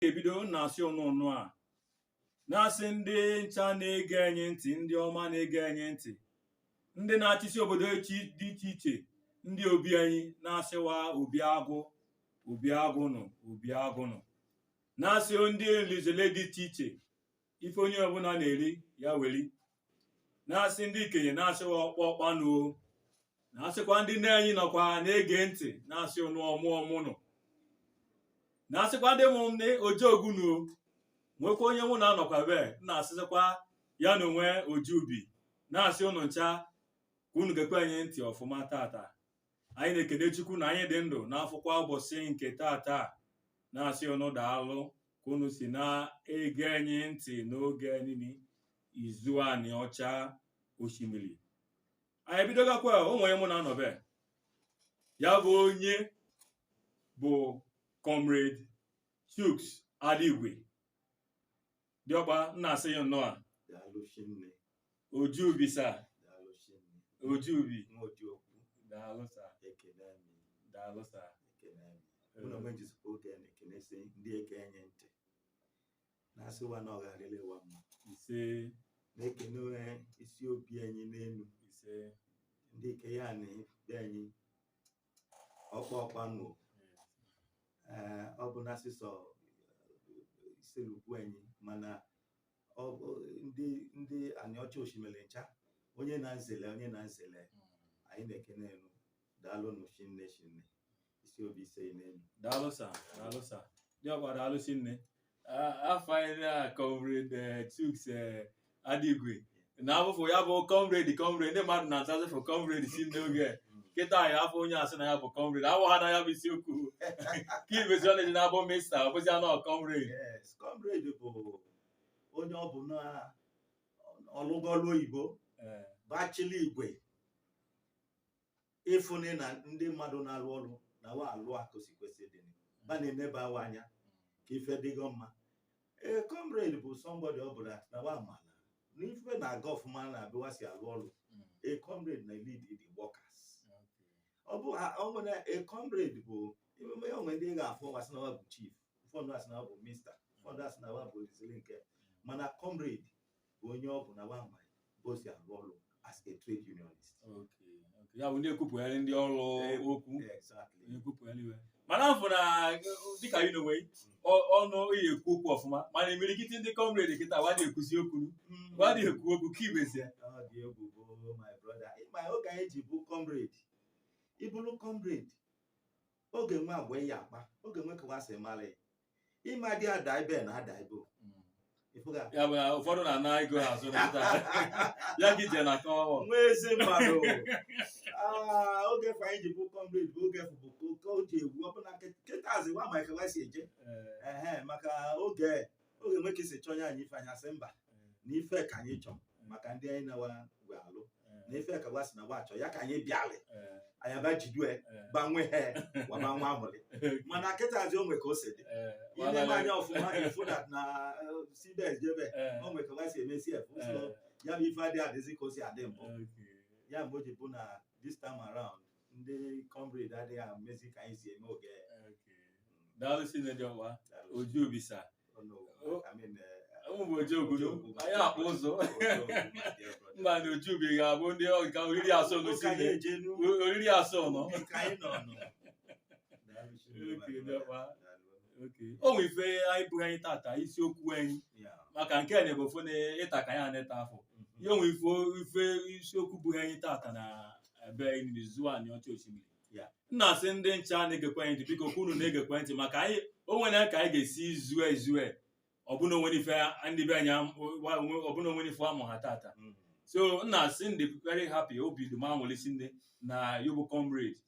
ga-ebido na-asị ụnụ nnụa na-asị ndị ncha na-ege anyị ntị ndị ọma na-ege anyị ntị ndị na-achịsi obodo dị iche iche ndị obi anyị na-asị wa obi agụ obi agụnụ obi agụnụ na-asị ndị olinzele dị iche iche ife onye ọbụna na-eri ya weli na-asị ndị ikenye na-asị wa ọkpa ọkpa nụ o na asịkwa ndị nne anyị nọkwa na-ege ntị na-asị ụnụ ọmụ ọmụnụ na asịkwa ndị mụ ndị ojeogu nuo nwekwa onye mụ na ya nọkwa ebe na-asịzikwa ya na onwe oji ubi na-asị ụnụ ncha ka unu gekwe anyị ntị ọfụma tata anyị na-ekene Chukwu na anyị dị ndụ na-afụkwa ụbọsị nke tata na-asị ụnụ daalụ ka unu si na-ege anyị ntị n'oge niile izu anị ọcha osimiri anyị bidogakwa onye mụ na ya nọ ebe a bụ onye bụ comrade Chuks Adigwe diọkpa na-asị ya nnọọ daalụ shinne oji ubi sa daalụ shinne oji ubi nwa oji okwu daalụ sa ekele m daalụ sa ekele m mụ na onwe m jizikwa oge a na-ekenesi ndị ege anyị ntị na-asị wa na ọ ga-adịlị wa mma ise na-ekene isi obi anyị n'enu ise ndị ikenye na be anyị ọkpa ọkpa nụ ee ọ bụ na sọsọ Issele-Uku anyị mana ọ bụ ndị ndị Aniọcha Oshimili ncha onye na nzele onye na nzele anyị na-ekene unu daalụ nụ shinne shinne isi obi ise n'enu daalụ sa daalụ sa diọkpa daalụ shinne afụ na uh, comrade uh, Chuks uh, Adigwe. na afụfụ ya bụ comrade comrade ndị mmadụ na-azazị fụ comrade si n'oge kịta ị ya-afụ onye asị na ya bụ comrade awụ ha na ya bụ isiokwu kị mezi ọ na-eji na-abụ mista ọ bụzi anọ comrade yes comrade bụ onye ọ bụ na ọ lụgo ọlụ oyibo Eh, bachili igwe ịfụnị na ndị mmadụ na-alụ ọlụ na wa alụ ka o si kwesị dị ba na-eneba wa anya ka ife dịgo mma ee comrade bụ somebody ọ bụla na wa mala na ife na-aga ọfụma n'ebe wa si alụ ọlụ a comrade na lead the workers ọ bụ ọ nwere a comrade bụ emume o nwe ndị ga-afụ wa sị na wa bụ chief ụfọdụ asị na wa bụ mista ụfọdụ asị na wa bụ ozili nke mana comrade bụ onye ọ bụ na wa ma ebe o si alụ ọlụ as a trade unionist Okay, okay. ya bụ ndị ekwupụgharị ndị ọlụ okwu exactly ekwupụgharị iwe mana afụ na dịka yị n'onwe gị, ọ- ọnụ ị ekwu okwu ọfụma mana imirikiti ndị comrade kịta wa adị ekwuzi okwu Mm. wa adị ekwu okwu kị mezie ọ dị egwu bụ my brother ịma oge anyị ji bụ comrade ịbụrụ comrade ọ ga-enwe agwa ị ya-akpa ọ ga-enwe ka wa si mala ya ịma dị ada ibe na ada ibo ịfụga ya bụ na ụfọdụ na-ana ego ha azụ n'ụta ya gị je na-akpọ nwa ezi mmadụ Ah, oge fa anyị ji bụ comrade bụ oge bụ oke o ji egwu ọbụna kịtazị wa ma ka wa si eje ehe maka oge oge nwoke si chọnye anyị ife anyị asị mba na ife ka anyị chọọ maka ndị anyị na wa wee alụ na ife ka wa sị na wa achọ ya ka anyị bịalị anyị aba jidue gbanwe ha waba nwa amụlị mana kịtazi o nwe ka o si dị i lee anya ọfụma ị fụ na na cbs jebe o nwe ka wa si eme cf so ya bụ ife adịghị adịzi ka o si adị mbụ ya mgbe o ji bụ na this time around ndị comrade adịghị emezi ka anyị si eme oge daalụ sinne Diọkpa Ojubi sa ụmụ oji obodo anyị akpụ ụzọ mba na Ojubi ga-abụ diọkpa oriri asọ n'osi oriri asọ nọ o nwe ife buhe anyị tata isiokwu anyị maka nke a na-ebe ofu na ịta ka anyị aneta afọ ihe onwe ife isiokwu buhe anyị tata na ebe n'izu Anịọcha Osimili Ya. m na-asị ndị ncha na-egekwa anyị ntị biko ka unu na-egekwa ntị maka anyị o nwere ka anyị ga-esi zue izu e ọbụna onwere ife ndị be anyị am- wa- onwe- ọbụna onwere ife amụha tata Mm. so m na-asị m dị very happy obi dị m anwụlị sinne na yụ bụ comrade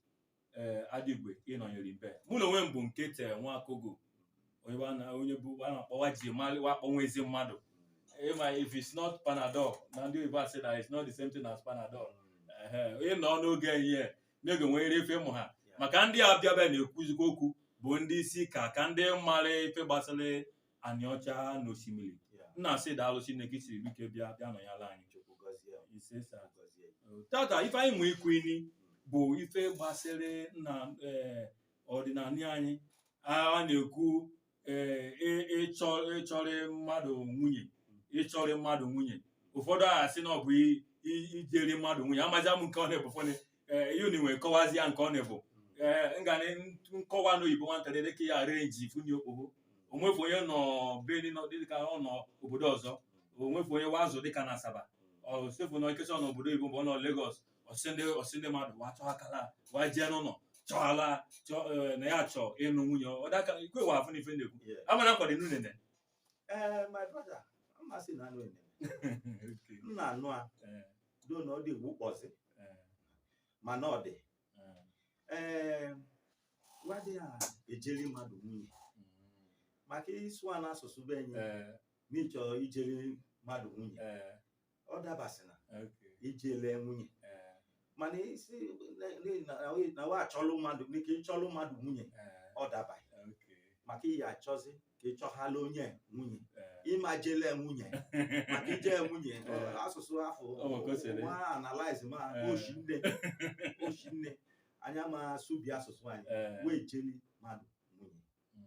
ee Adigwe ị nọnyere m ebe mụ na onwe m bụ Nkete Nwakogo onye bụ a na- onye bụ a na-akpọ wa ji mali wa akpọ nwa ezi mmadụ ịma if it's not panadol na ndị oyibo asị na it's not the same thing as panadol Ehe, onye nọ n'oge ehihie n'oge nwere ife mụha maka ndị a bịa ebe na-ekwuzikwa okwu bụ ndị isi ka ka ndị mara ife gbasara Anịọcha na Osimili Yeah. m na-asị daalụ sinne ka i siri ike bịa bịa nọnyala anyị Chukwu gọzie m. ise sa Gọzie m. tata ife anyị nwee ikwu ini bụ ife gbasịrị na eh, ọdịnala anyị a na-ekwu eh, ị- ịchọ ịchọrị mmadụ nwunye ịchọrị mmadụ nwunye ụfọdụ asị na ọ bụ i- i- ijeri mmadụ nwunye amazị m nke ọ na-ebufone ee ihe unu nwere kọwazi ya nke ọ na-ebu ee nga na nkọwa n'oyibo nwatakịrị dịka ya renji funye okpogho onwefu onye nọ Benin dịka ọ nọ obodo ọzọ onwefu onye wazụ dịka na asaba ọsefu nọ ikesa ọ nọ obodo oyibo mgbe ọ nọ Lagos ọ sị ndị ọ sị ndị mmadụ wa chọọ akala wa jee n'ụlọ chọọ ala chọọ ee, na ya chọọ ịnụ nwunye ọ daka ikwe wa afụ n'ife na-ekwu Yeah. amana nkwado n'unene ee eh, my brother m ma sị na anụ eneme m na-anụ a eh. do na ọ dị egwu kpọzi eh. mana ọ dị ee wa dị ya ejeli mmadụ nwunye mm. maka ịsụ a n'asụsụ be enyi n'ịchọ ijeli mmadụ nwunye ọ dabasị na Okay. ijele nwunye Eh, mana isi na- n'ihi na- na we- na we achọlụ mmadụ n'ike ịchọlụ mmadụ nwunye eh, ọ dabaghị okay. maka ị ya-achọzi ka ịchọhala onye nwunye Eh, ị ma jele nwunye maka ije nwunye ọ, Eh. asụsụ afụ Ọ bụ ka o si eme. nwa analize ma Eh. oshi nne oshi nne anya ma subi asụsụ anyị eh, wee jeli mmadụ nwunye mm,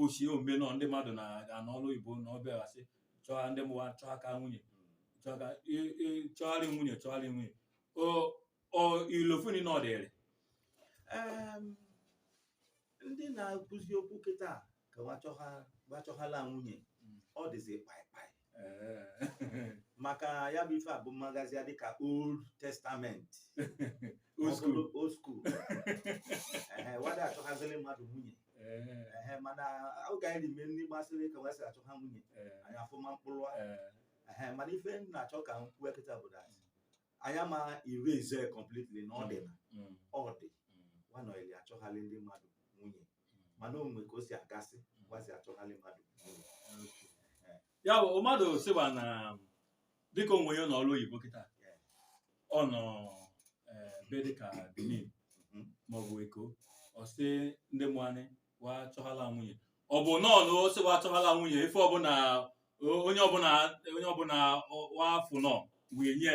ochie ombe nọ ndị mmadụ na-anọ n'ọrụ oyibo na ọbịa wa sị chọọ ndị mụ wa chọọ aka nwunye chọọ aka i- i- chọgharị nwunye chọgharị nwunye O- o ilofuni na ọ dịrị Em, ndị na-akụzi okwu kịta ka wa chọhala nwunye Mm. ọ dịzi kpaịkpaị Eh. maka ya bụ ife a bụ mmagazi ya dịka old testament Old school. Ọbụrụ old school Ehe, wa ada achọghaziri mmadụ nwunye Eh, Ehe, mana oge anyị n'ime ndị gbasịrị ka wa si achọ ha nwunye eh, anyị afụma mkpụrụ a. eh, Ehe, mana ife m na-achọ ka m kwuo kịta bụ that anyị ama erase completely na ọ dị na mm, ọ dị mm. wa nọyili achọghali ndị mmadụ nwunye mana o nwe ka o si agasị gwazi achọghalị mmadụ ya bụ mmadụ sị wa na dịka onye nọ n'ọrụ oyibo kịta ọ nọ eh, be dịka Benin Mhm. maọbụ Eko ọ sị ndị mụanị wa chọhala nwunye ọ bụ nọọ na ọ sị wa chọhala nwunye ife ọbụla o- onye ọbụla onye ọbụla ọ- wa afụ nọ wee nye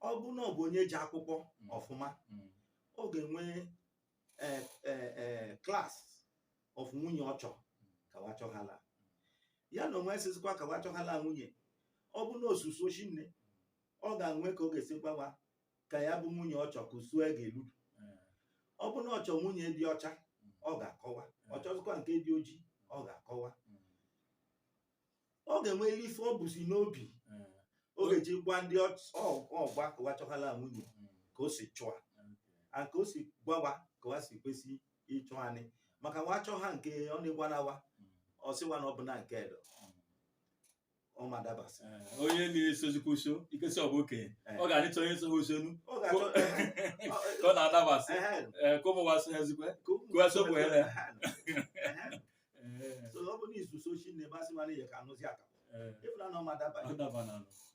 ọ bụ na ọ bụ onye je akwụkwọ Mm. ọfụma Mm. ọ ga-enwe eh, eh, eh, class of nwunye ọ chọ ka wa chọghala ya na onwe sizikwa ka wa chọghala nwunye ọ bụ na o so uso oshi nne ọ ga-enwe ka ọ ga-esi gwa wa ka ya bụ nwunye ọ chọ ka uso e ga-elu Eh. ọ bụ na ọ chọ nwunye dị ọcha ọ ga-akọwa ọ chọzikwa nke dị oji ọ ga-akọwa Mm. ọ ga-enwe ife o buzi n'obi eh, ọ ga-eji gwa ndị ọch- ọ- ọ gwa ka wa chọhala nwunye mm, ka o si chọa okay. a ka o si gwa wa ka wa si kwesị ịchọanị maka wa chọọ ha nke ọ na-egwana wa Mm, ọ sị wa na ọ bụ na nke edo mm. ọ ma dabasị Eh, onye na-esozikwa uso ikesi ọ bụ okenye Eh. ọ ga-adịcha onye so ha uso nụ ọ ga-achọ ka ọ na-adabasị ehe, eh, ka ụmụ wa so ha zikwe ka ụmụ Ka wa sopụ ya na ya. Ehe, ehe. eh. so ọ bụ na i so uso oshi nne wa sị mara ihe ka anụzi akapụ eh. ị fụna na ọ ma dabanye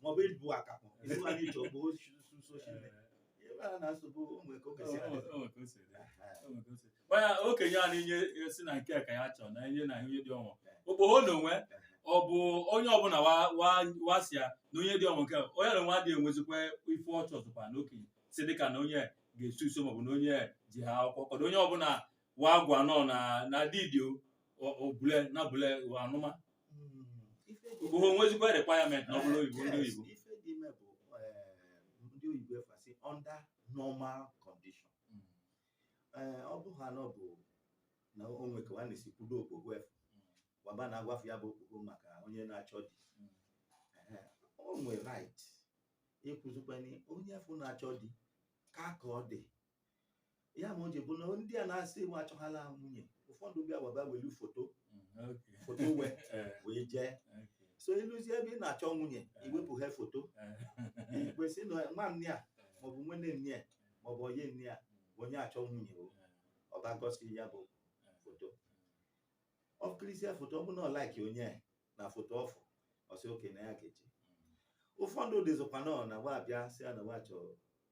maọbụ ị bụ akapụ ịsịmara iche ọ bụ so uso oshi nne ịmara na nsogbu o nwe ka oge si mana okenye a na-enye si na nke ka ya chọọ na enye na ihe dị ọnwa okpoho na onwe ọ bụ onye ọbụla wa sị ya na onye dị ọnwa nke onye na nwa dị enwezikwa ife ọ chọzụkwa na okenye si dịka na onye ga-eso uso maọbụ na onye jeha akwụkwọ kọdụ onye ọbụla wa agwa nọ na na didi o- o- obule na bule wa anụma bụ ha o nwezikwa requirement na ọ bụla oyibo ndị oyibo ife dị ime bụ eh, ndị oyibo efasi under normal condition Eh, ọ bụ ha na ọ bụ na o nwe ka nwanne si kwudo okpogho afụ wa ba na-agwafụ ya bụ okpogho maka onye na-achọ di Ehe, o nwe right ịkwụzikwanye onye afụ na-achọ di ka ka ọ dị ya mma o ji bụ na ndị a na-asị wa achọghala nwunye ụfọdụ bịa wa ba welu foto foto we wee jee so i luzie ebe ị na-achọ nwunye i wepụ ha foto ikwesị na nwanne a maọbụ nwanne nne ya maọbụ onye nne ya onye achọ nwunye o ọ ba gosi ya bụ foto o kirisịa foto ọ bụ na ọ like onye na foto ọfụ ọ sị okay na ya ga-eji ụfọdụ dịzikwa nọ na wa abịa sị ya na wa chọrọ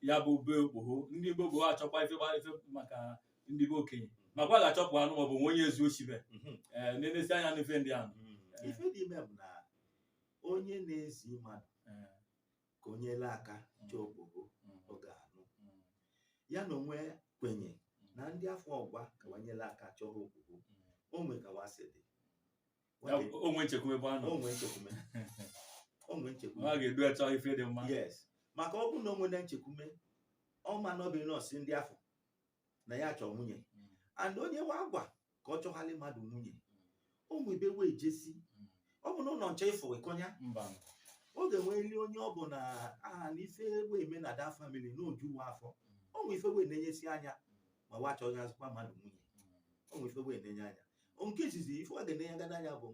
ya bụ be okpogho ndị be okpogho achọkwa ife gba- ife maka ndị be okenye makwa ga-achọpụ anụ maọbụ nwe onye ezu oshi be Mhm. ee na-enesi anya n'ife ndị ahụ Mm. ife dị ime bụ na onye na-ezi mmadụ Ee, ka o nyela aka chọọ okpogho mm, ọ ga-anụ mm, ya na onwe kwenye na ndị afụ ọ gwa ka wa nyela aka chọọ okpogho mm. o nwe ka wa si dị Ya bụ, o nwee nchekwube ebe a nọ o nwe nchekwume o nwe ọ nchekwume ga-edu achọ ife dị mma yes maka ọ bụrụ na o nwene nchekwume ọma n'obi na ọ sị ndị afụ na ya chọọ nwunye Mm, and onye wa gwa ka ọ chọghalị mmadụ nwunye o nwe ebe we ejesi mm, ọ bụ na ụnọ nche ịfụ ịkọnya mba ọ ga-enweli onye ọ bụ na aha na ife we eme na da family na oju wa afụ o nwe ife we na-enyesi anya ma wa chọghị azụkwa mmadụ nwunye o nwe ife we na-enye anya nke izizi ife wa ga-ene ya gada anya bụ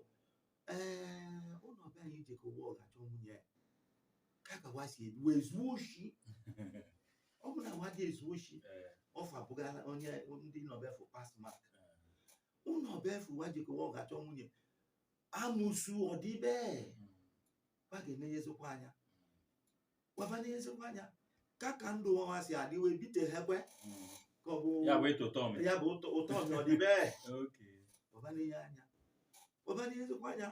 ee ụnọ be anyị jekọ wa ga-achọ nwunye ka ka wa si ebi wa ezu oshi ọ bụ na wa adị ezu oshi ọfa bụga enye ndị nọ be afụ pass mark ụnọ be afụ wa jekọ wa ga-achọ nwunye amụsu ọ dị be wa ga-enenyezikwa anya wa ba nenyezikwa anya ka ka ndụ wa si adị wee bite ha kwe ka ọ bụ ya bụ ịtụ ụtọ ọmị ya bụ ụtọ ụtọ ọmị ọ dị bee Okay. wa ba nenye anya wa ba nenyezikwa anya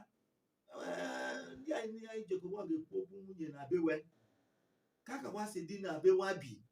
ee, ndị anyị ndị anyị jekọ wa ga-ekwu okwu nwunye na be we ka ka wa si dị na ebe wa bi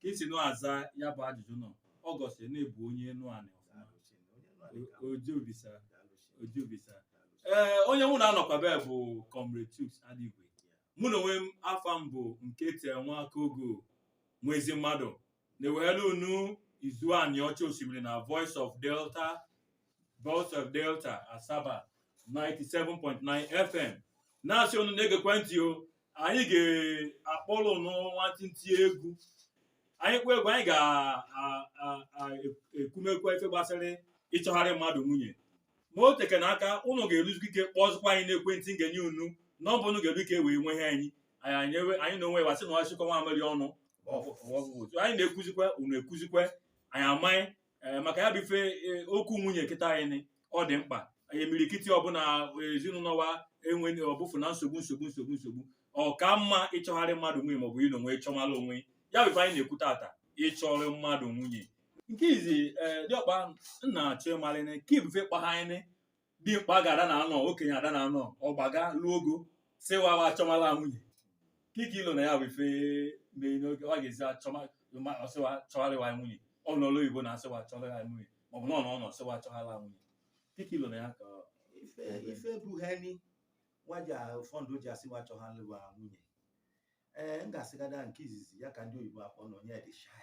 ka i si na-aza ya bụ ajụjụ nọ ọ gosi na ị bụ onye enuanị ọfụma oji obisa oji obisa ee onye mụ na-anọkwabe bụ comrade chuks adigwe mụ na onwe m afa m bụ nke tere nwa aka ogo nwaezimmadụ na-eweghelu unu izu anịọcha osimiri na voice of delta Voice of Delta Asaba 97.9 FM na-asị unu na-egekwa ntị o anyị ga-akpọrọ unu nwantịntị egwu anyị kpọọ egwu anyị ga-ekumekwa ife gbasara ịchọgharị mmadụ nwunye ma o tekene aka unu ga-eruzikwa ike kpọzụkwa anyị n'ekwentị m ga-enye unu nọmba unu ga-eru ike wee nwe ihe anyị anyị na onwe wa sị na asịkọ nwamịrị ọnụ anyị na-ekwuzikwa unu ekwuzikwa anyị amaghị ee maka ya bụ ife e, okwu nwunye kịta anyị ọ dị mkpa anyị imirikiti ọbụla ezinụnọ wa enwe ọbụfụ na nsogbu nsogbu nsogbu nsogbu ọ ka mma ịchọgharị mmadụ nwunye maọbụ ị na onwe ị chọmala onwe ị ya bụ ife anyị na-ekwu tata ịchọrọ mmadụ nwunye nke izi ee diọkpa nna achọ ịmalịnị kị bụ ife kpahaịnị dimkpa ga-ada na anọ okenye ada na anọ ọgbaga lụọ ogo sị wa wa achọmala nwunye kị ka i lo na ya bụ ife mee n'oge ọ ga-ezi achọma ma ọ sị wa chọhalị wa nwunye ọ n'ọlụ oyibo na-asị wa chọhalị wa nwunye maọbụ na ọ nọ ọ nọ sị wa chọhalị wa nwunye kị ka i lo na ya ka ọ- ife ife buheni waja ụfọdụ ji asị wa chọhalị wa nwunye ee m ga-asịgada nke izizi ya ka ndị oyibo akpọ na onye dị shy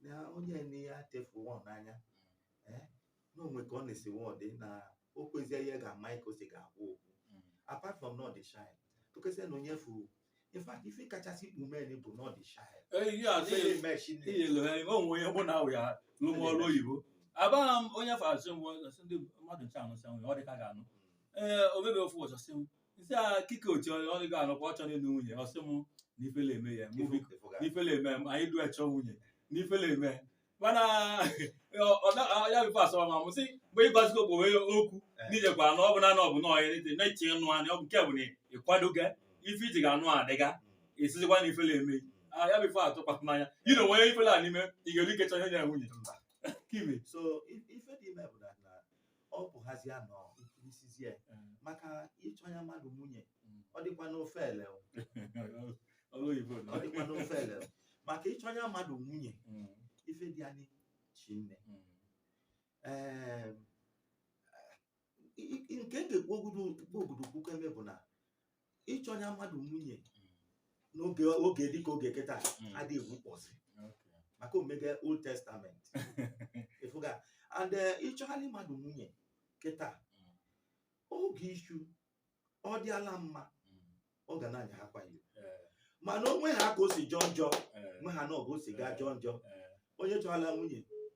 na onye na ya tefu nwa n'anya eh, na o nwe ka ọ na-esi nwa ọdị na o kwezie ihe ga-ama ka o si ga-agwa okwu apart from na ọ dị shy tụkesịa na onye furu in fact ife kachasị ikpu men bụ na ọ dị shy eyi a sị Ele ime shi nne. iyelu ha ime o nwe onye bụ na awụ ya lụmụ ọrụ oyibo abaghị m onye fa asị m asị ndị mmadụ nche anụ sị m ọ dị ka ga-anụ ee obebe ofu ụzọ sị m nsị a kike otu ọ ọ dịghị anọkwa ọ chọrọ ịlụ nwunye ọ sị m na ifele eme ya mụ biko Ịfụga. na ifele eme m anyị du achọ nwunye na ifele eme mana ọ- ọ na- ọ- ya bụ ife asọwa ma mụ sị mgbe ịgwazigo bụ onye okwu n'ijekwa anụ ọ bụ na anụ ọ bụ na ọya n'ite na-eche ịnụ anị ọ bụ nke bụ na ịkwadoga ife i ji ga-anụ adịga esizikwa na ifele eme Ah, ya bụ ife atụkwasị n'anya ị na onwe ifele a n'ime ị ga-eru ike chọọ ihe ya nwunye Mba. kime so i- ife dị ime bụ na na ọ pụghazia nọ ikirisizie Mm. maka ịchọnya mmadụ nwunye Mm. ọ dịkwanọ ọfele o. Ọrụ oyibo ọ dịkwanọ ọfele o. maka ịchọnya mmadụ nwunye Mm. ife dị anyị shinne Mm. Ee, i- i- nke m ga-ekwu ogudu okwu eme bụ na ịchọnya mmadụ nwunye n'oge oge dịka oge kịta mm. adịghị ekwukpọzi maka o mega old testament ịfụga and eh, ịchọhalị mmadụ nwunye kịta mm. oge ishu ọ dịala mma mm. ọ ga na-anya ha kwayo eh. mana o nwe ha ka o si jọọ njọ eh. nwe ha na ọ bụ o si gaa jọọ njọ onye chọrọla nwunye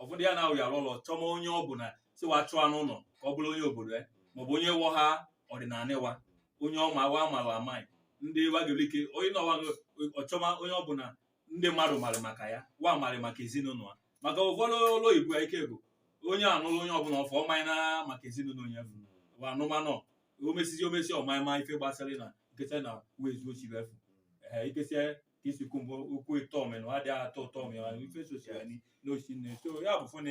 ụfọdụ ya na-awụ ya ụlọ chọma onye ọ bụla sị wa chọọ n'ụlọ ka ọ bụrụ onye obodo ya maọbụ onye wọ ha ọdịnala ịwa onye ọma wa amaghị amaghị ndị wagelike onye na ọwa ọ chọma onye ọ bụla ndị mmadụ marị maka ya wa marị maka ezinụlọ ya maka ụfọdụ ụlọ oyibo ya ike bụ onye anụrụ onye ọbụla ọ fụ ọmanye na maka ezinụlọ onye afụ wa anụmanụ omesizi omesi ọmanye ma ife gbasara na nkesa na wezuo chibefu ee ikesia ka isi kwu mbụ okwu ịtọ ọmị na ọ adịghị atọ ụtọ ọmị ọ ife sosi ya ni- n'osi nne so ya bụ fụ na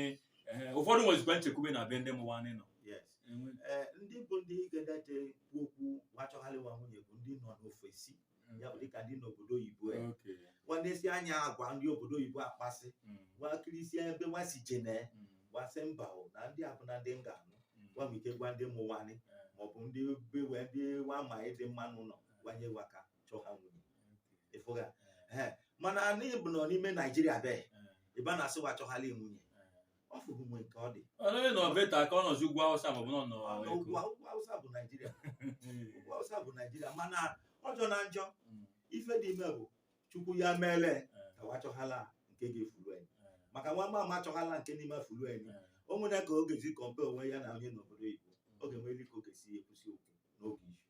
ehe, ụfọdụ nwezikwa Chekwube na be ndị mụ wa anyị nọ yes Enwe. ee ndị bụ ndị ga-edeje kwu okwu wa chọgharị wa nwunye bụ ndị nọ n'ofesi ya bụ dịka ndị n'obodo oyibo e. Okay. wa nesie anya agwa ndị obodo oyibo akpasị Mm, wa kirisie ebe nwa si jene mm, wa sị mba o na ndị a abụna ndị m ga-anụ mm. wa nwe ike gwa ndị mụ wa nị maọbụ ndị be we ndị wa ma ịdị mma n'ụnọ gwanye wa ka chọọ ha nwunye ị fụga mana anyị bụ nọ n'ime naijiria be ị bịa na-asị wa chọghali nwunye ọ fụghị mgbe nke ọ dị onye nọ beta ka ọ nọzi ugwu awụsa maọbụ nọ nọ Mana ugwu ugwu awụsa bụ naijiria ugwu awụsa bụ naijiria mana ọ jọna njọ ife dị ime bụ chukwu ya meele ka wa achọghala nke ga-efulu anyị maka nwa mama achọghala nke n'ime afulu anyị o nwere ka ọ ga-eji compare onwe ya na onye n'obodo oyibo oge nwere ka ọ ga-esi ekwusi okwu n'oge izu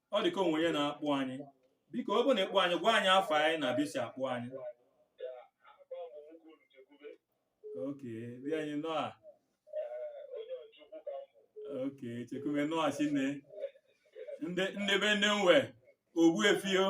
ọ dị ka o nwe onye na-akpọ anyị biko ọ bụ na ị kpọ anyị gwa anyị afa ị na ebe i si akpọ anyị okay inyi nọ a okay chekwube nọ a chinne ndị ndị be nne nwe ogbuefi o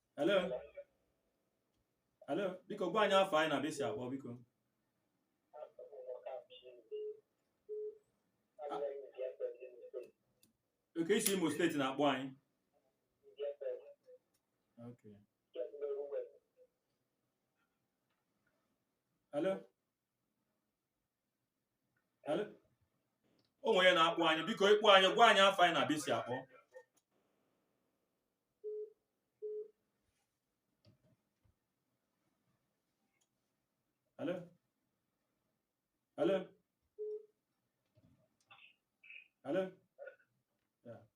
Hello? Hello? Biko gwa anyị afa ị na ebe i si akpọ biko. Okay i si Imo steeti na-akpọ anyị. Okay. Hello? o nwe onye na-akpọ anyị biko ị kpọ anyị gwa anyị afa ị na ebe i si akpọ Hello? Hello? Hello?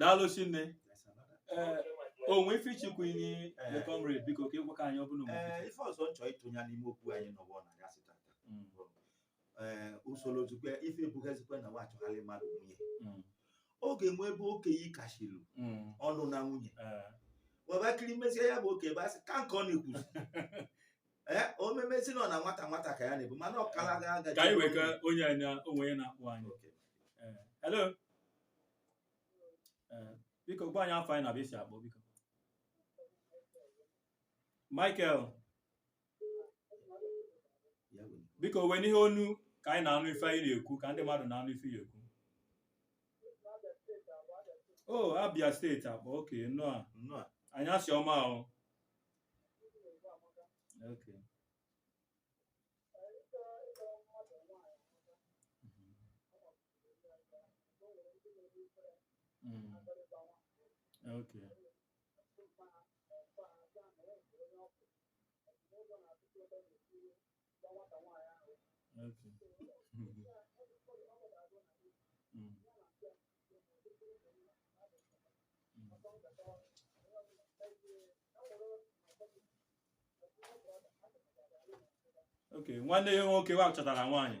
daalụ chinne o nwe ife ị chọ ikwu inyi the comrade biko ka ị gwakwa anyị ọ bụla ee ife ọzọ m chọ ịtụnye n'ime okwu anyị nụwa n'anyasị tata ee usoro zukwe ife ebughezikwe na wa chọgharị mmadụ nwunye Mm. ọ ga-enwe ebe okenye kashilu Mm. ọnụ na nwunye Eh. webakiri mezie ya bụ oke ebe asị ka nke ọ na-ekwuzi ee o memezi nọ na nwata nwata ka ya na-ebu mana ọ kala ga agaji ka anyị wee ka onye anyị na- o nwe onye na-akpọ anyị Okay. Eh, hello Eh, biko gwa anyị afa gị na ebe i si akpọ biko michael biko wenie onu ka anyị na-anụ ife ị na-ekwu ka ndị mmadụ na-anụ ife ị na-ekwu o abia steeti akpọ okay nnọọ Nnọọ. anyasị ọma ahụ okay Mm. okay Okay. Okay. nwanne ya nwoke wa chọtara nwaanyị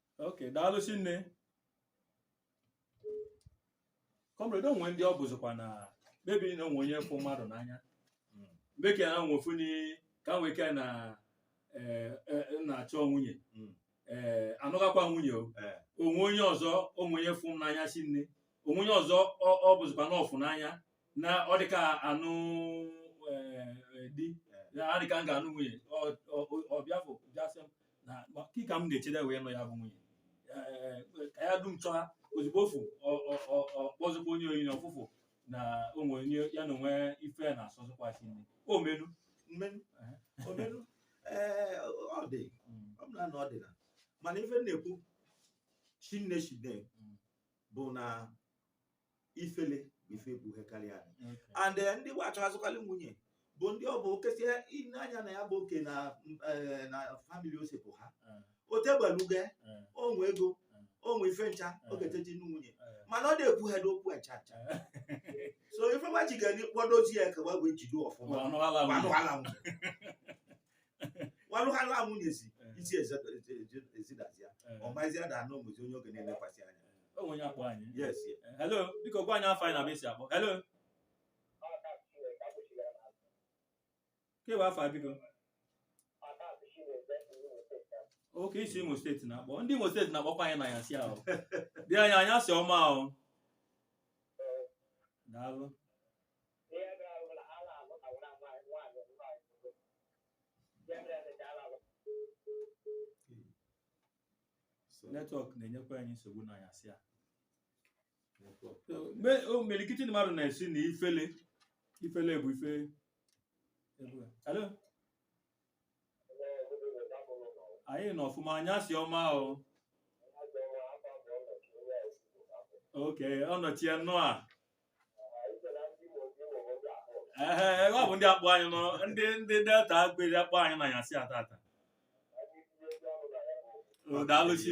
ok daalụ chinne comrade o nwe ndị ọ bụzikwa na maybe na o nwe onye fụ mmadụ n'anya mgbe ka ya nwe funi ka nwoke na eh, eh, na-achọ nwunye Mm. eh, anụghakwa nwunye o Eh. o nwe onye ọzọ o nwe onye fụ n'anya chinne o nwe onye ọzọ ọ- ọ bụzikwa na ọ fụ n'anya na ọ dị ka anụ eh, eh, di na adị ka m ga-anụ nwunye Ọ- ọ- ọ- ọ bịa fụ bịa sị m na kị ka m na-echede wee nụ ya bụ nwunye Eh, ka ya dum chọha ozugbo ofu ọ- ọ- ọ- ọ kpọzikwa onye oyi na ọfụfụ na o nwe onye ya na o nwe ife na-asọzikwa chinne o menu mmenu eh, Omenu, ee, ọ dị mm, ọ bụla na ọ dị na mana ife m na-ekwu chinne chine Mm. bụ na ifele bụ ife bụ ihe karịa anyị Okay. and eh, ndị wa chọhazịkarị nwunye bụ ndị ọ bụ okesie ile anya na ya bụ oke na eh, na family o si pụha Eh, otegbeluge eh, o nwe ego Mm. o nwe ife ncha Mm. ogeteji nụ nwunye eh, mana ọ na-ekwu ha n'okwu ncha ncha eh. so ife nwa ji ga-enye kpọdozi ya ka wee wee jide ọfụma Ọnụ ala gbanụ nwunye. ala nwunye walụghalụ amụ nyezi Eh. isi ezidazi ya Eh, ọmazi ada anụ ụmụzi onye ọ ga na-elekwasị anya o nwe onye akpọ anyị yes yes. Eh, hello biko gwa anyị afa gị na ebe i si akpọ hello kewa afa gị biko okay i si imo steeti na-akpọ ndị imo steeti na-akpọkwa anyị n'anyasị a di anyị anyasị ọma o daalụ netwọk na-enyekwa anyị nsogbu n'anyasị a imelikiti mmadụ na-asị na ifele ifele bụ ife hello anyị nọ ọfụma anyasị ọma o okay Ọnọchie nnụa ehe ọ bụ ndị akpọ anyị nọ ndị ndị delta agberi akpọ anyị na anyasị a tata O, daalụ chi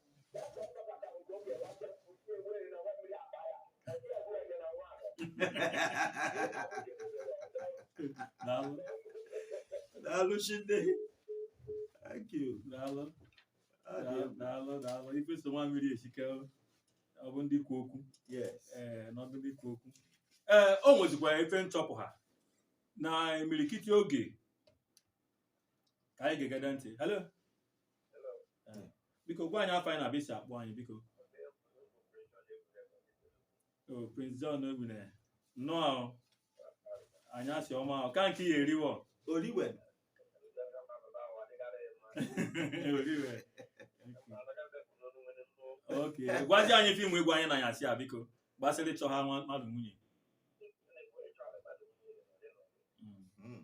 Daalụ. Daalụ Chinne. Thank you. Daalụ. Ọ dị Daalụ, egwu. daalụ, daalụ. Ife so nwa mmiri esi ike ọ bụ n'ikwu okwu. Yes. Ee, na ọ bụ n'ikwu okwu. Ee, o nwezikwa ife m chọpụta na imirikiti oge ka anyị ga-egede ntị. Hello? biko gwa anyị afa gị na ebe i si akpọ anyị biko o prince john egbune nnụa anyasị ọma o ka nke ya eriwo oriwe oriwe okay gwazi anyị ife i nwe ịgwa anyị n'anyasị a biko gbasara ịchọ ha nwa- mmadụ nwunye Mm.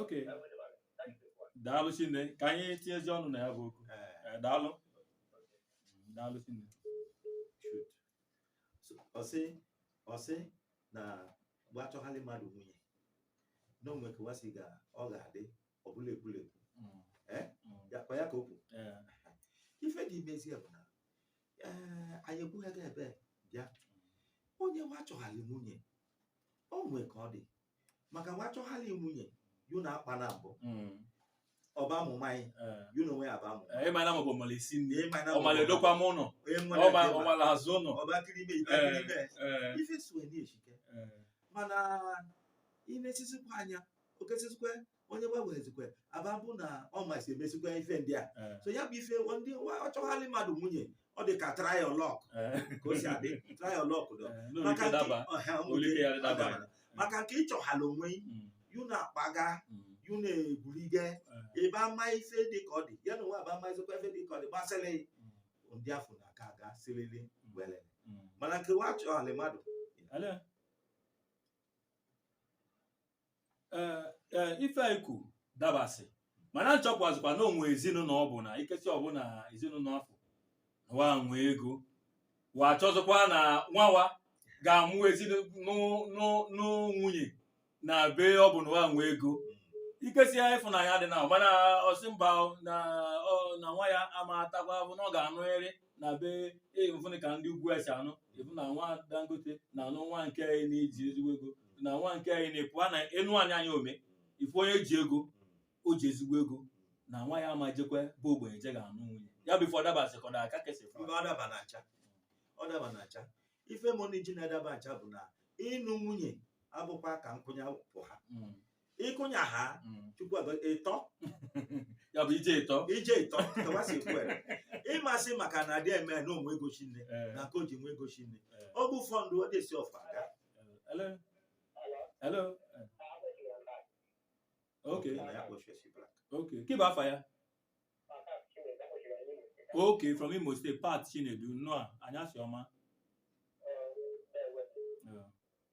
ok daalụ chinne ka anyị tinyezi ọnụ na ya bụ okwu Eh, daalụ daalụ chinne ọ sị ọ sị na wa chọghalị mmadụ nwunye na o nwee ka wa si ga ọ ga-adị ọ bụlụ ekwurekwu Eh? ya kwa ya ka o kwuru ife dị imezi ya bụ na ee anyị ekwughị gị ebe bịa onye wa chọghalị nwunye o nwee ka ọ dị maka wa chọghalị nwunye yu na akpa na mbụ mm. ọ bụ amụma anyị eh. yu na onwe ya bụ amụma eh, ị ma na mọbụ mala isi nni ọ mala edokwa ụnọ ọ mala aza ụnọ ọba kiri ime ite kiri ime eh, ife suwe na-esi ike mana i nesizikwa anya okesizikwa onye gbanwezikwe aba bụ na ọ masị emesikwa ife ndị a eh. so ya bụ ife ndị a chọhalị mmadụ nwunye ọ dị ka trial luck eh. ka o si adị trial luck dọ Eh, n'ụlọ maka ike nke daba ọha ụlọ ụmụnne ike ya dị daba adabara. maka nke ị chọhala onwe gị, Mm, yu na-akpaga mm, yu na-egwurige eh, ebe ama ife dị ka ọ dị ya na onwe aba amazikwa ife dị ka ọ dị gbasịrị mm, ndị afụ na-aga aga sirili were mm. mana nke wa chọhalị mmadụ Hello? ee ee ife i kwu dabasị mana m chọpụtazikwa na o nwe ezinụlọ ọ bụ na ikesi ọ bụ na ezinụlọ afụ wa nwe ego wa chọzikwa na nwa wa ga-anụ ezinụlọ nwunye na be ọ bụ na wa nwe ego ikesi ya ịfụnanya dị na mana ọ sị mba o, na ọ- na nwa ya ama atakwa bụ na ọ ga-anụrịrị na be ị fụnụ ka ndị ugwu esi anụ ị fụ na nwa dangote na-anụ nwa nke onye na-eji ezigbo ego na nwa nke onye na-epu a na enu anyị anya ome ife onye ji ego o ji ezigbo ego na nwa ya ama ejekwe be ogbenye je ga-anụ nwunye ya bụ ife ọ dabasị ka ọ da aka kesị mba ọ daba na-acha ọ daba na-acha ife mọni ji na-adabacha bụ na ịnụ nwunye abụkwa ka nkwụnye pụ ha ịkụnya ha Mm. chukwu agọ- ịtọ ya bụ ije ịtọ ije ịtọ tawasi kwere ịmasị maka na adị eme na o nwe ego shinne Eh, na ka o ji nwe ego shinne eh, ọ bụ fọndụ ọ dịsi ọfa aga eh, hello hello eh. okay na ya kpọchie si black okay kị bụ afa ya okay from imo state pat chinedu nnọọ anyasị ọma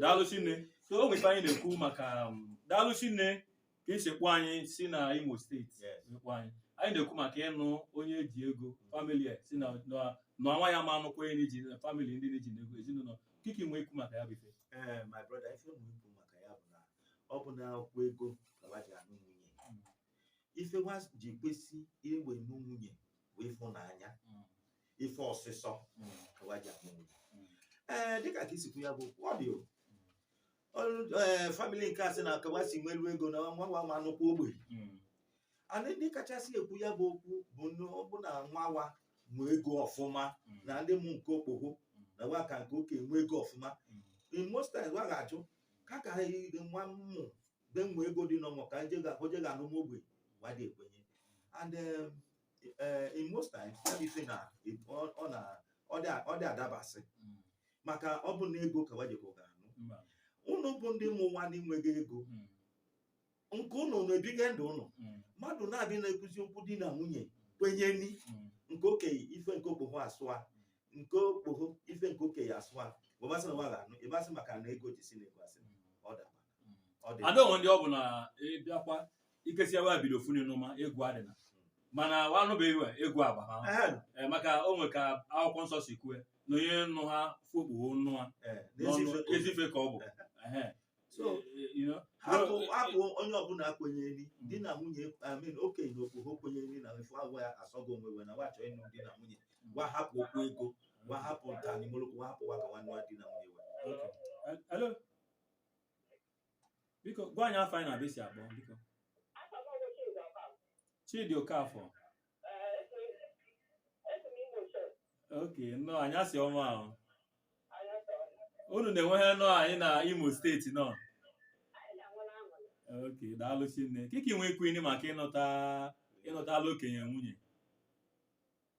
daalụ shinne so o nwe ife anyị na-ekwu maka um, daalụ shinne ka i si kpọ anyị si na imo steeti kpọ anyị anyị na-ekwu maka ịnụ onye ji ego famili sị na nwa ya ama anụkwa onye ji famili ndị na-eji ego ezinụlọ kị ka ị nwee ikwu maka ya bụ ife eh, my brother ife m nwee ikwu maka ya bụ na ọ bụ na abụkwa ego ka wa ji anụ nwunye ife wa ji kwesị iwe nụ nwunye bụ ịfụnanya mm. ife ọsịsọ mm. ka wa ji anụ nwunye mm. ee dịka ka i si kwu ya bụ okwu ọ dị o ee famili nke a sị na ka wa si nwelu ego na nwa wa ama anụkwa ogbenye and ndị kachasị ekwu ya bụ okwu bụ ọ bụ na wa wa nwe ego ọfụma na ndị nwe oke okpogho na wa ka nke oke nwe ego ọfụma in most times wa ga-achọ ka ka nwa mmụ mgbe mgbe ego dị n'ọnwa ka je ga oje ga anụ ogbenye wa dị ekwenye and um, eh, in most times ya bụ ife na ọ- ọ na ọ dị ọ dị adabasị Mm. maka ọ bụ na ego ka wa jekọ ga anụ Mba. ụnụ bụ ndị mụ nwa na-enweghị ego Mm. nke ụnụ na-ebiga ndụ ụnụ Mm. mmadụ naabị na-ekwuzi okwu di na nwunye kwenye ni Mm. nke okenye ife nke okpoho asọ ya nke okpoho ife nke okenye asọ ya gbabasị na wa ga-anụ ịbasị maka na ego ji si na ego asị ọ daba ada o nwe ndị ọ bụ na ịbịakwa ike sia wa bido funi n'ụma ego adịna mana wa anụbeghị we ego agba ha eh, maka o nwe ka akwụkwọ nsọ si kwue na onye nụ ha fụ okpoho nụ ha eh, ezi ife ka ọ bụ eh, hapụ onye ọbụla kwenyeri hmm. di na nwunye I mean okenye na okpoho kwenyeri na ife agwa ya asọgo onwe wa na wa chọ ịnụ di na nwunye hmm. gwa hapụ okwu ego gwa hapụ ntanimolokwu gwa hapụ wa ka nwanne di na nwunye we biko gwa anyị afa ị na ebe i si akpọ biko Chidi Okafọ okay nnọọ anyasị ọma ahụ unu na-enweghị anụ anyị na Imo steeti nọ okay daalụ shinne kị ka i nwe ikwuni maka ịnụta ịnụtala okenye nwunye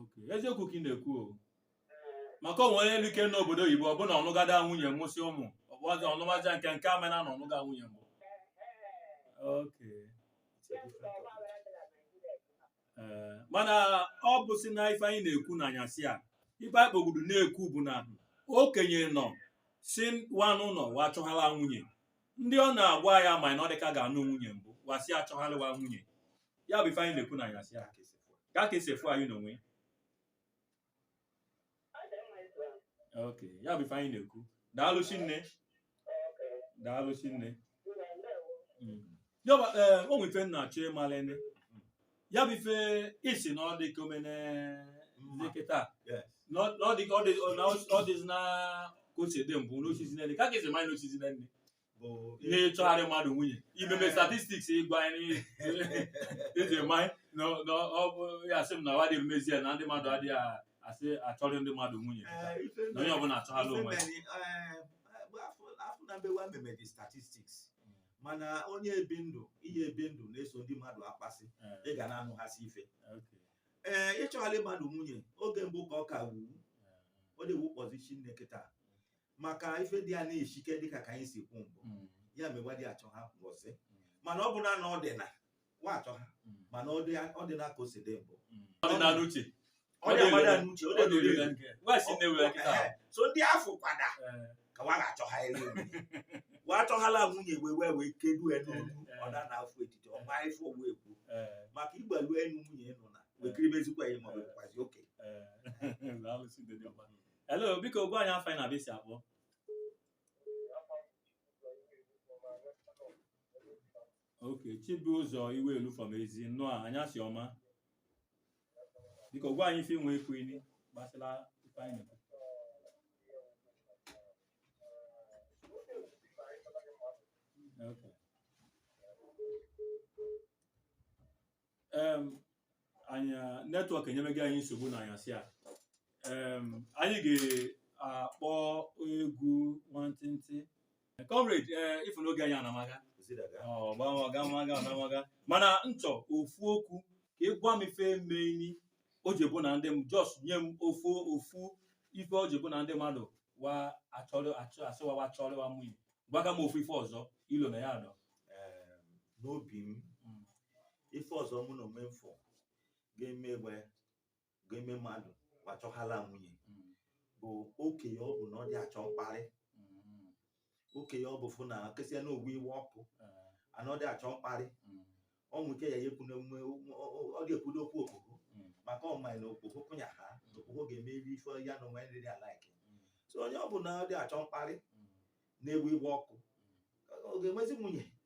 Okay. eziokwu ka ị na-ekwu o maka o nwe onye elu ike n'obodo oyibo ọ bụ na ọ nụgada nwunye mụsị ụmụ ọ bụ ọzọ ọnụmaja nke nke amana na ọ nụga nwunye mbụ Okay. Ee, mana ọ bụ si na ife anyị na-ekwu na anyasị a ife anyị kpogbudu na-ekwu bụ na okenye nọ si wanụ nọ wa chọghala nwunye ndị ọ na-agwa ya ma na ọ dịka ga-anụ nwunye mbụ wa sị achọghalịwa nwunye ya bụ ife anyị na-ekwu na anyasị a ka ka esi efu anyị n'onwe ok ya bụ ife anyị na-ekwu daalụ shinne daalụ shinne ya bụ ee o nwere ife m na-achọ ịmalene ya bụ ife ị sị na ọ dị ka omene Mma. dị kịtaa Yes. na ọ na ọ dị ka ọ dị na ọ dịzi na ka o si dị mbụ n'osisi nene ka ka esi manye n'osisi nene bụ n'ịchọgharị mmadụ nwunye imeme statistics ị gwa anyị i ji manye na na ọ bụ ya sị m na wa dị emezi ya na ndị mmadụ adịghị a- asị achọrị ndị mmadụ nwunye Eh, ife na onye ọbụla achọghala ife onwe ya mere, eh, bụ afọ- afọ na mbewa meme dị statistics mana onye ebi ndụ ihe ebi ndụ na-eso ndị mmadụ akpasị ị ga na-anụghasị ife Okay. ee ịchọgharị mmadụ nwunye oge mbụ ka ọ ka wuwu ọ dị ewu kpọzi shinne kịtaa maka ife dị a na-eshike dịka ka anyị si kwu mbụ mm. ya me wa dị achọ ha ngọzi mm. mana ọ bụ na ọ dị na wa achọ ha mm. mana ọ dị na ka o si dị mbụ so ndị afọ kwada eh. ka wa ga-achọ ha elu wa achọhala nwunye wee wee wee kedu enu eh, eh. ọ da na afọ etiti ọ ma ife owu ekwu maka igbalu enu nwunye nọ na wekiribezikwa ya ma ọ bụkwazi oke hello biko gwa anyị afa ị na ebe i si akpọ ok Chibụzọ Iwelu from Ezi nnọọ anyasị ọma biko gwa anyị ife i nwe ekwu ini gbasara ife anyị na-ekwu Okay. em anyị network enyemego anyị nsogbu na anyasị a em anyị ga-akpọ egwu nwantịntị comrade ee ị fụ n'oge anyị anamaga gamaga mana nchọ ofu okwu ka ị gwa m ife meini o ji bụ na ndị m just nye m ofu ofu ife o ji bụ na ndị mmadụ wa asị wa wa chọrị wa nwunye gwaga m ofu ife ọzọ i lo na ya adọ Em, N'obi m, ife ọzọ mụ na onwe m fụ ga-eme we ga-eme mmadụ wa achọhala nwunye mm. bụ okenye ọbụna ọ dị achọ mkparị mm. okenye ọ bụ fụ na kesịa na ogbu iwe ọkụ eh. and ọ dị achọ mkparị mm. o nwe ike ya ya ekwu na emume ọ ga-ekwudo okwu okpoho maka ọ ma na okpoho kụnya ha okpoho ga-emeri ife ya na onwe nri dị alike so onye ọbụna ọ dị achọ mkparị na-ewu iwe ọkụ ọ ga-enwezi nwunye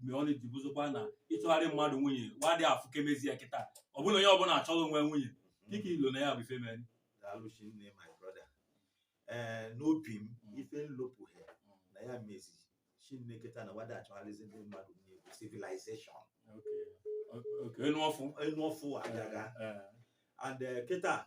mgbe ọ na-eji bụzokwa na ịchọgharị mmadụ nwunye wa dị afụ kemezi ya kịta ọ bụlụ onye ọbụla achọlị onwe nwunye kị ka i lo na ya bụ ife meni daalụ shinne my brother ee n'obi m ife n lopụha na ya mezi shinne kịta na wa dị achọgharịzi ndị mmadụ nwunye bụ civilization okay enu ọfụ enu ọfụ agaga Eh, and eh, kịta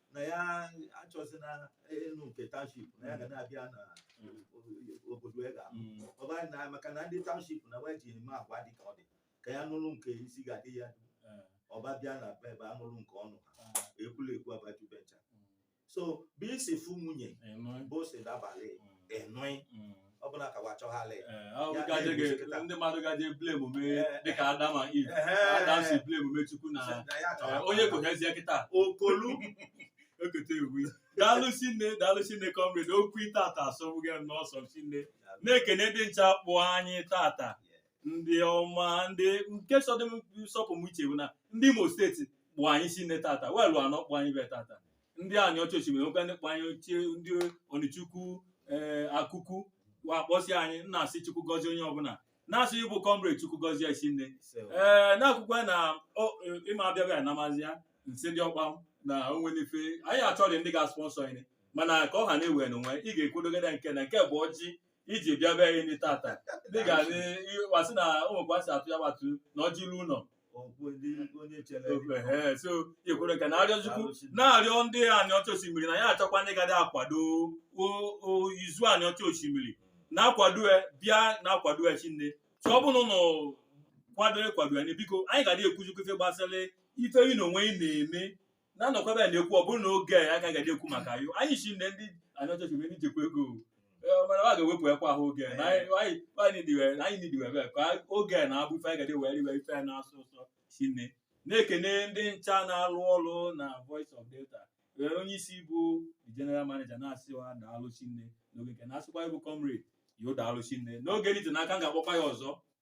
na ya achọzi na enu nke township na ya ga na-abịa na obodo ya ga mm. ọ bụ na maka na ndị township na we ji eme agwa dị ka ọ dị ka ya nụrụ nke isi ga-adị ya eh. ọ ba bịa na be ebe a nụrụ nke ụnọ ha eh. ekwulekwu abaju ebe ncha mm. so bụ i si fụ nwunye bụ si dabalị enụị mm. ọ bụla ka wa chọghalị Ee, ọ Ya gaje na-egbu ga- kịta. ndị mmadụ gaje blame me Ee. dịka Adam and Eve Adam si blame me Chukwu na Na ya ee, chọghalị. onye kohezie kịta okolu okote ewu daalụ shinne daalụ shinne comrade okwu tata asọgbui m n'ụsọ shinne na-ekene ndị ncha kpọ anyị tata ndị ọma ndị nke sọdụ m sọpụ m uche bụ na ndị Imo State kpọ anyị shinne tata we lu anọ kpọ anyị be tata ndị anịọcha oshimili wekwa ndị kpọ anyị ochie ndị onicha ukwu ee akụkụ wa kpọsị anyị na-asị chukwu gọzie onye ọbụla na-asị ịbụ comrade chukwu gọzie i shinne ee na-akwụkwọ na ọ- ịma abịaghị anamazi ya nsị ndị ọkpanam onwe n'ife anyị achọghị ndị ga-sponsor anyị mana ka ọ ha na-ewe n'onwe ị ga-ekwudogide nke na nke bụ ọjị iji bịa be anyị ndị tata dịka wa sị na ụmụkwa si atụ ya gbatu na ọjị ilu ụlọ so ikwere nke na-arịọ chukwu na-arịọ ndị anịọcha oshimili na ya achọkwa ndị ga-adị akwado izu anịọcha oshimili na-akwado ya bịa na-akwado ya shinne tụ ọ bụrụ na kwado ịkwado ya biko anyị ga-adị ekwuzikwa ife gbasara ife ị na onwe ị na-eme na-anọkwa ebe a na-ekwu ọ bụrụ na oge a agaghị adị ekwu maka yo anyị shinne ndị anịọcha oshimili jikwa ego Eh, mana a ga-ewepụ ekwa ahụ oge na anyị anyị- anyị nidiwe anyị nidiwe ebe a, ka oge a na-abụ ife anyị ga-adị were iwe ife anyị na-asọ ụsọ shinne na-ekene ndị ncha na-alụ ọrụ na voice of delta were onye isi bụ the general manager na-asị wa daalụ shinne n'oge nke na-asịkwa ịbụ comrade yo daalụ shinne n'oge dị n'aka m ga-akpọkwa ya ọzọ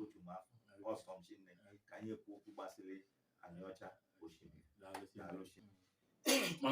otu m afọ ọ sọ m shinne ka anyị ekwu okwu gbasịrị anịọcha oshimili daalụ shi